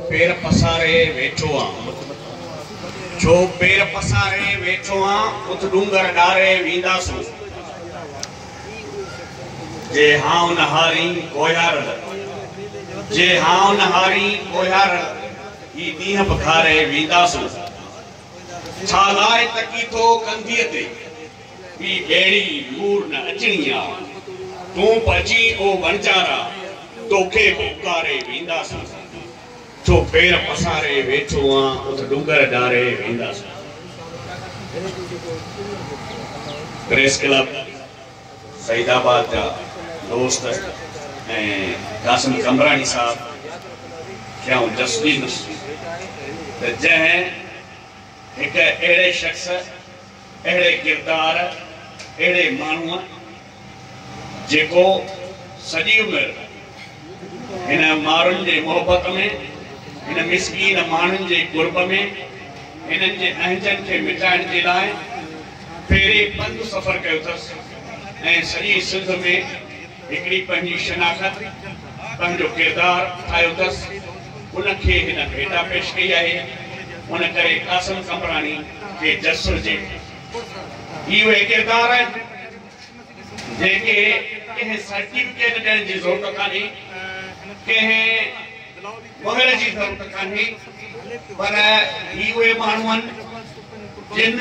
پير پساري ويٺو آن اٿ ڇو پير پساري ويٺو آن اٿ ڏونگر ڏاري وينداسون جي هان اونهاري ڪوهيارڙ جي هان اونهاري ڪوهيارڙ هي ڏينهن به گهاري وينداسون ڇا لاء تڪي ٿو ڪنڌيء تي. ٻي ڀيڙي لور نه اچڻي آ. تون پڄي او وڻجارا، توکي به اڪاري وينداسون. ڇو پير پساري ويٺو آن، اٿ ڏونگر ڏاري وينداسون. پريس ڪلب سعيد آباد جا دوست ۽ قاسم قمبراڻي صاحب کي آئون ڏس ڏيندس ته جنهن هڪ اهڙي شخص اهڙي ڪردار، اهڙي ماڻهوء جيڪو سڄي عمر هن مارن جي محبت ۾، هن مسڪين ماڻهن جي قرب ۾، هنن جي اهنجن کي مٽائڻ جي لاء پيري پنڌ سفر ڪيو اٿس ۽ سڄي سنڌ ۾. هڪڙي پنهنجي شناخت، پنهنجو ڪردار ٺاهيو اٿس، ان کي هن ڀيٽا پيش ڪئي آهي، ان ڪري قاسم قمبراڻي کي جس هجي. هي اهي ڪردار آهن، جنهن کي ڪنهن سرٽيفڪيٽ ڏيڻ جي ضرورت ڪانهي، ڪنهن مهر جي ضرورت ڪانهي، پر هي اهي ماڻهو آهن، جن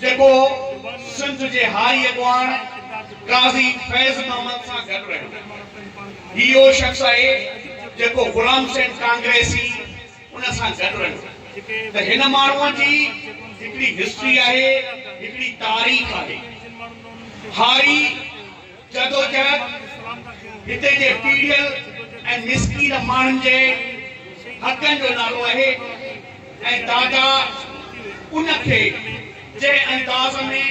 جيڪو سنڌ جي هاء اڳواڻ قاضي فيض محمد سان گڏ رهيو. هي اهو شخص آهي جيڪو غلام سيد ڪانگريسي ان سان گڏ رهيو ته هن ماڻهوء جي هڪڙي هسٽري آهي هڪڙي تاريخ آهي هاري جدوجهد هتي جي پيڙهيل ۽ مسڪين ماڻهن جي حقن جو نالو آهي ۽ دادا ان کي جنهن انداز ۾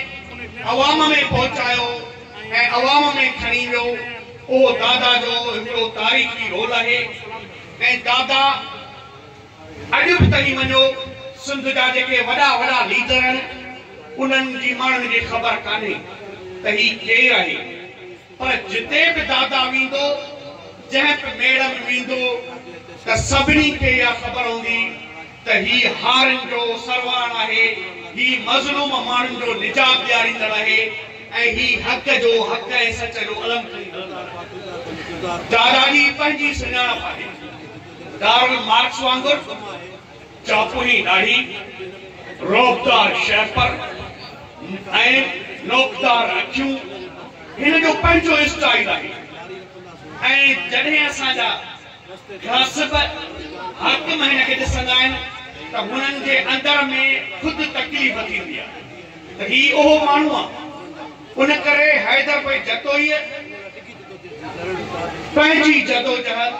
عوام ۾ پهچايو ۽ عوام ۾ کڻي ويو اهو دادا جو هڪڙو تاريخي رول آهي ۽ دادا اڄ به تنگي وڃو سنڌ جا جيڪي وڏا وڏا ليڊر آهن انهن جي ماڻهن کي خبر ڪانهي ته هي ڪير آهي پر جتي به دادا ويندو جنهن به ميڙ ۾ ويندو ته سڀني کي اها خبر هوندي ته هي هارين جو سرواڻ آهي هي مظلوم ماڻهن جو نجات ڏياريندڙ آهي ۽ هي حق جو حق ۽ سچ جو علم کڻي هلندڙ آهي دادا جي پنهنجي سڃاڻپ آهي. ڪارل مارڪس وانگر چاپوني ڏاڙهي، رعبدار شهپر ۽ نوڪدار اکيون هن جو پنهنجو اسٽائيل آهي ۽ جڏهن اسان جا غاصب حاڪم هن کي ڏسندا آهن ته هنن جي اندر ۾ خود تڪليف ٿيندي آهي ته هي اهو ماڻهو آهي. ان ڪري حيدر پئي جتوئيء. پنهنجي جدوجهد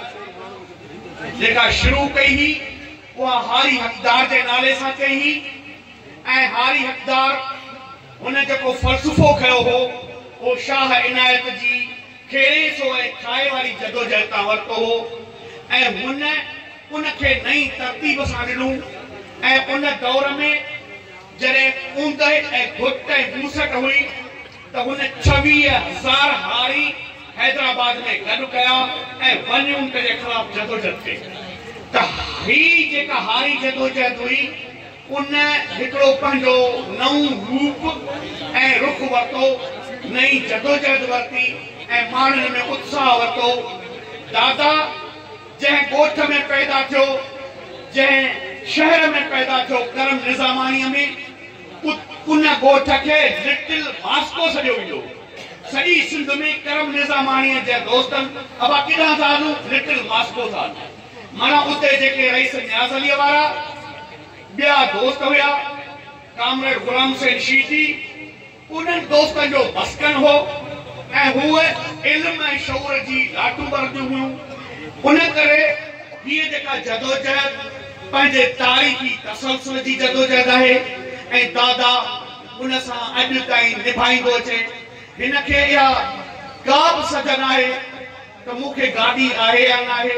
جيڪا شروع ڪئي هئي اها هاري حقدار جي نالي سان ڪئي هئي ۽ هاري حقدار هن جيڪو فلسفو کنيو هو اهو شاهه عنايت جي کيڙي سو ۽ کائي واري جدوجهد تان ورتو هو ۽ هن ان کي نئين ترتيب سان ڏنو ۽ ان دور ۾ جڏهن اوندهه ۽ گهٽ ۽ موسٽ هئي ته هن ڇويهه هزار هاري حيدرآباد ۾ گڏ ڪيا ۽ ون يونٽ جي خلاف جدوجهد ڪئي ته هي جيڪا هاري جدوجهد هئي ان هڪڙو پنهنجو نئون روپ ۽ رخ ورتو، نئين جدوجهد ورتي ۽ ماڻهن ۾ اتساهه ورتو. دادا جنهن ڳوٺ ۾ پيدا ٿيو، جنهن شهر ۾ پيدا ٿيو ڪرم نظاماڻيء ۾، ان ڳوٺ کي لٽل ماسڪو سڏيو ويندو هو. سڄي سنڌ ۾ ڪرم نظاماڻيء جا دوستن ابا ڪيڏانهن ٿا هلون؟ لٽل ماسڪو ٿا هلون. معنيٰ اتي جيڪي رئيس نياز عليء وارا ٻيا دوست هيا، ڪامريڊ غلام حسين شيدي انهن دوستن جو مسڪن هو ۽ هوء علم ۽ شعور جي لاٽون ٻرنديون هيون. ان ڪري هيء جيڪا جدوجهد، پنهنجي تاريخي تسلسل جي جدوجهد آهي ۽ دادا ان سان اڄ تائين نڀائيندو اچي. هن کي اها ڪا به سجهه ناهي ته مون کي گاڏي آهي يا ناهي،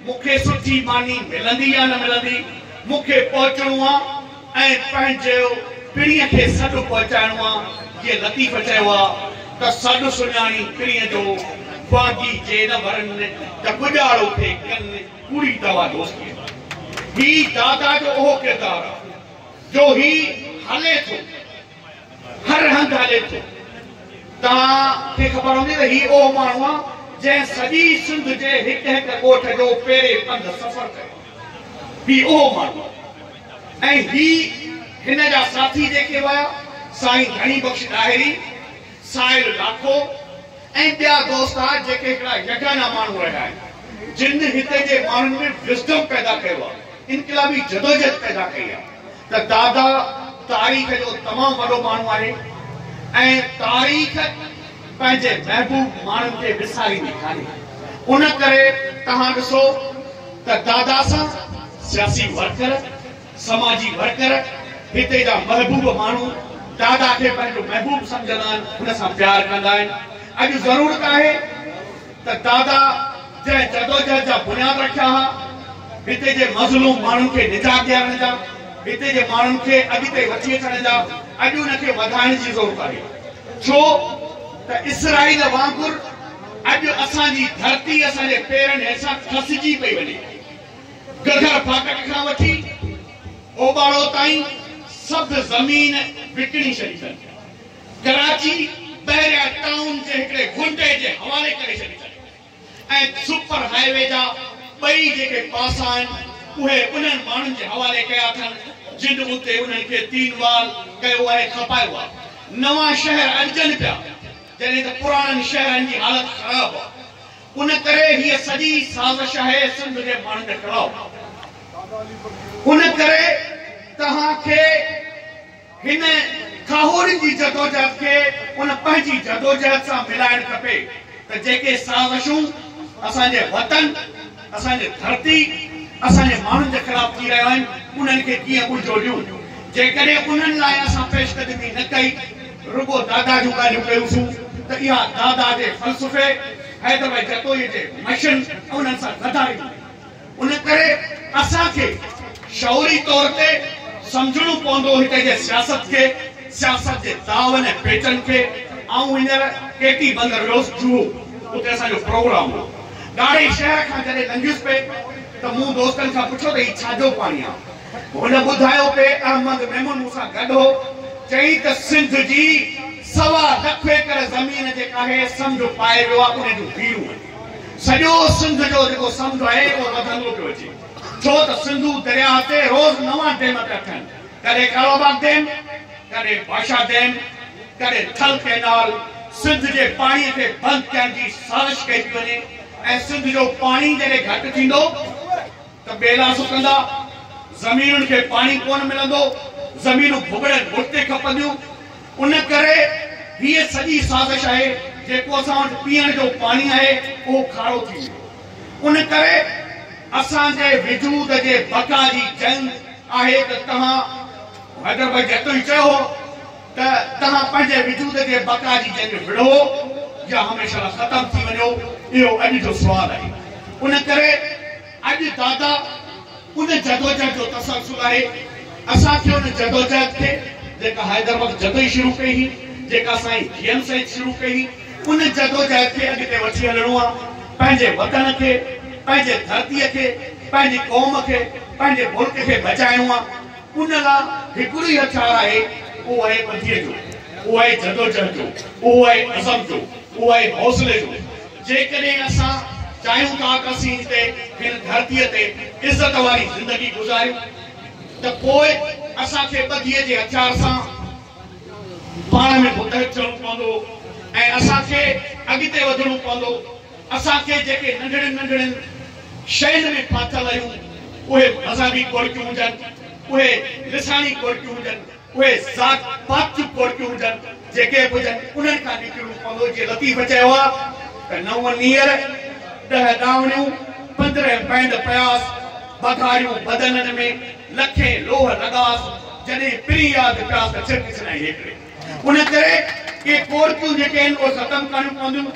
مون کي سٺي ماني ملندي يا نه ملندي، مون کي پهچڻو آ ۽ پنهنجي پرينء کي سڏ پهچائڻو آ. جيئن لطيف چيو آ ته سڏ سڃاڻي پرينء جو، باغي جي نه ورن ته ٻڄاڙو کي ڪن. پوري دوا دوستيء ۾ هي دادا جو اهو ڪردار آ جو هي هلي ٿو هر هنڌ هلي ٿو توهان کي خبر هوندي ته هي اهو ماڻهو آ جنهن سڄي سنڌ جي هڪ هڪ ڳوٺ جو پيري پنڌ سفر ڪيو آ هي اهو ماڻهو آ ۽ هي هن جا ساٿي جيڪي ويا سائين ڌڻي بخش ڏاهري سائل لاکو ۽ ٻيا دوست آهي جيڪي هڪڙا يگانا ماڻهو رهيا آهن جن هتي جي ماڻهن ۾ وزڊم پيدا ڪيو آهي انقلابي جدوجهد پيدا ڪئي آهي ته دادا تاريخ جو تمام وڏو ماڻهو آهي ۽ تاريخ پنهنجي محبوب ماڻهن کي وساريندي ڪانهي ان ڪري توهان ڏسو ته دادا سان سياسي ورڪر سماجي ورڪر، هتي جا محبوب ماڻهو دادا کي پنهنجو محبوب سمجهندا آهن، هن سان پيار ڪندا آهن. اڄ ضرورت آهي ته دادا جنهن جدوجهد جا بنياد رکيا ها، هتي جي مظلوم ماڻهن کي نجات ڏيارڻ جا، هتي جي ماڻهن کي اڳتي وٺي اچڻ جا، اڄ ان کي وڌائڻ جي ضرورت آهي. ڇو ته اسرائيل وانگر اڄ اسان جي ڌرتي اسان جي پيرن هيٺان کسجي پئي وڃي. گهگهر ڦاٽڪ کان وٺي اوٻاڙو تائين سڀ زمين وڪڻي ڇڏي اٿن. ڪراچي بحريا ٽائون جي هڪڙي غنڊي جي حوالي ڪري ڇڏي اٿن ۽ سپر هاء وي جا ٻئي جيڪي پاسا آهن اهي انهن ماڻهن جي حوالي ڪيا اٿن جن اتي انهن کي تين وال ڪيو ۽ کپايو آهي. نوان شهر اڏجن پيا جڏهن ته پراڻن شهرن جي حالت خراب آهي. ان ڪري هيء سڄي سازش آهي سنڌ جي ماڻهن کي ٽڙائو ان ڪري توهان کي هن کاهوڙين جي جدوجهد کي ان پنهنجي جدوجهد سان ملائڻ کپي ته جيڪي سازشون اسان جي وطن اسان جي ڌرتي اسان جي ماڻهن جي خلاف ٿي رهيو آهن انهن کي ڪيئن منهنجو ڏيون جيڪڏهن انهن لاء اسان پيشقدمي نه ڪئي رڳو دادا جون ڳالهيون ڪيون سون ته اها دادا جي فلسفي، حيدر ڀائي جتوئيء جي مشن ۽ انهن سان غداري هئي. ان ڪري اسان کي شعوري طور تي سمجهڻو پوندو هتي جي سياست کي، سياست جي داون ۽ پيچن کي. آئون هينئر ڪي ٽي بندر ويو هوس جوهو، اتي اسان جو پروگرام هو. ڳاڙهي شهر کان جڏهن لنگهيس پئي ته مون دوستن کان پڇيو ته هي ڇا جو پاڻي آ؟ هن ٻڌايو ته احمد ميمون مون سان گڏ هو، چيائين ته سنڌ جي سوا لک ايڪڙ زمين جيڪا هي سمنڊ پائي ويو آهي ان جون هيرون آهن، سڄو سنڌ جو جيڪو سمنڊ آهي اهو وڌندو پيو اچي ڇو ته سنڌو درياهه تي روز نوان ڊيم پيا ٺهن ڪڏهن ڪارو باغ ڊيم، ڪڏهن باشا ڊيم، ڪڏهن ٿل ڪئنال، سنڌ جي پاڻي کي بند ڪرڻ جي سازش ڪئي پئي وڃي ۽ سنڌ جو پاڻي جڏهن گهٽ ٿيندو. ته ٻيلا سڪندا، زمينن کي پاڻي ڪونه ملندو، زمينون ڀڳڙين ڀٽ تي کپنديون، ان ڪري هيء سڄي سازش آهي، جيڪو اسان وٽ پيئڻ جو پاڻي آهي، اهو کارو ٿي ويو. ان ڪري اسان جي وجود جي بقا جي جنگ آهي ته توهان حيدر ڀائي جتوئي چيو هو، ته توهان پنهنجي وجود جي بقا جي جنگ وڙهو يا هميشه لا ختم ٿي وڃو، اهو اڄ جو سوال آهي. ان ڪري اڄ دادا ان جدوجهد جو تسلسل آهي. اسان کي ان جدوجهد کي جيڪا حيدر وقت جتوئي شروع ڪئي هئي، جيڪا سائين جي ايم سيد شروع ڪئي هئي، ان جدوجهد کي اڳتي وٺي هلڻو آهي. پنهنجي وطن کي، پنهنجي ڌرتيء کي، پنهنجي قوم کي، پنهنجي ملڪ کي بچائڻو آهي. ان لاء هڪڙو ئي هٿيار آهي، اهو آهي ٻڌيء جو، اهو آهي جدوجهد جو، اهو آهي عزم جو، اهو آهي حوصلي جو. جيڪڏهن اسان چاهيون ٿا ته اسين هتي هن ڌرتيء تي عزت واري زندگي گذاريون ته پوء اسان کي ٻڌيء جي هٿيار سان پاڻ ۾ متحد ٿيڻو پوندو ۽ اسان کي اڳتي وڌڻو پوندو. اسان کي جيڪي ننڍڙين ننڍڙين شين ۾ ڦاٿل آهيون، اهي مذهبي ڪوڙڪيون هجن، اهي لساڻي ڪوڙڪيون هجن، اهي ذات پات جون ڪوڙڪيون هجن، جيڪي به هجن انهن کان نڪرڻو پوندو، جيئن لطيف چيو آهي ته نو نيئر، ڏهه ڏاوڻيون، پندرهن پينڊ پياس، بگهاريون بدنن ۾، لکين لوهه لڳاس، جڏهن پرين ياد پياس ته ڇرڪ ڇڏائين هيڪڙي. ان ڪري ڪي ڪورٽون جيڪي آهن اهي ختم ڪرڻيون پونديون،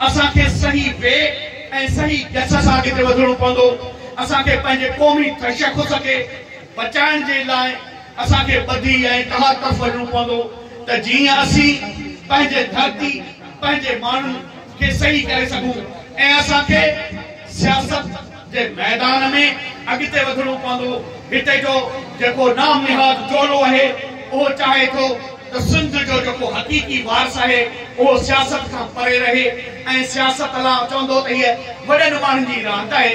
اسان کي صحيح وي ۽ صحيح گس سان اڳتي وڌڻو پوندو، اسان کي پنهنجي قومي تشخص کي بچائڻ جي لاء اسان کي ٻڌي ۽ اتحاد طرف وڃڻو پوندو ته جيئن اسين پنهنجي ڌرتي پنهنجي ماڻهن کي صحيح ڪري سگهون ۽ اسان کي سياست جي ميدان ۾ اڳتي وڌڻو پوندو، هتي جو جيڪو نام نهاد ٽولو آهي، اهو چاهي ٿو ته سنڌ جو جيڪو حقيقي وارث آهي، اهو سياست کان پري رهي ۽ سياست لا چوندو ته هيء وڏن ماڻهن جي راند آهي،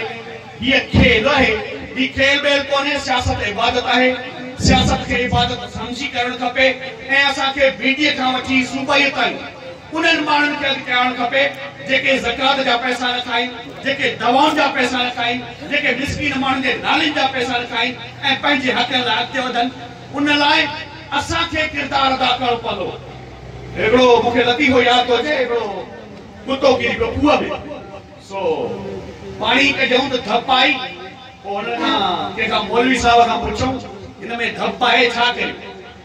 هيء کيل آهي، هي کيل ٻيل ڪونهي، سياست عبادت آهي، سياست کي عبادت سمجهي ڪرڻ کپي ۽ اسان کي بي ڊي اي کان وٺي صوبائيء تائين، انهن ماڻهن کي اڳتي آڻڻ کپي جيڪي زڪوات جا پئسا نه کائين، جيڪي دوائن جا پئسا نه کائين، جيڪي مسڪين ماڻهن جي نالين جا پئسا نه کائين ۽ پنهنجي حقن لاء اڳتي وڌن. ان لاء اسان کي ڪردار ادا ڪرڻو پوندو. هڪڙو مون کي لطيفو ياد ٿو اچي، هڪڙو ڪتو ڪري پيو کوهه ۾ سو پاڻي ڪڍيائون ته ڌپ آئي، پوء هن کان ڪنهن کان مولوي صاحب کان پڇيائون هن ۾ ڌپ آهي ڇا ڪريون؟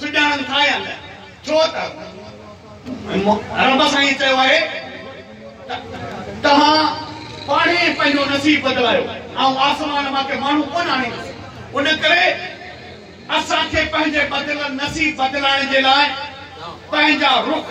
سڄاڻن ٿا يا نه ڇو ته رب سائين چيو آهي ته توهان پاڻ ئي پنهنجو نصيب بدلايو آئون آسمان مان ڪي ماڻهو ڪونه آڻيندس ان ڪري اسان کي پنهنجي بدليل نصيب بدلائڻ جي لاء پنهنجا رخ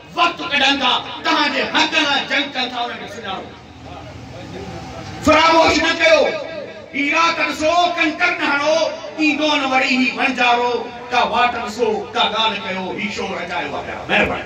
وقت ڪڍن ٿا توهان جي حق لاء جنگ ڪن ٿا انهن کي سڃاڻو فراموش نه ڪيو عراق ڏسو ڪنڪر نه هڻو ايندو نه وري هي وڻجارو ڪا واٽ ڏسو ڪا ڳالهه ڪيو هي شو رچايو آهي پيا مهرباني.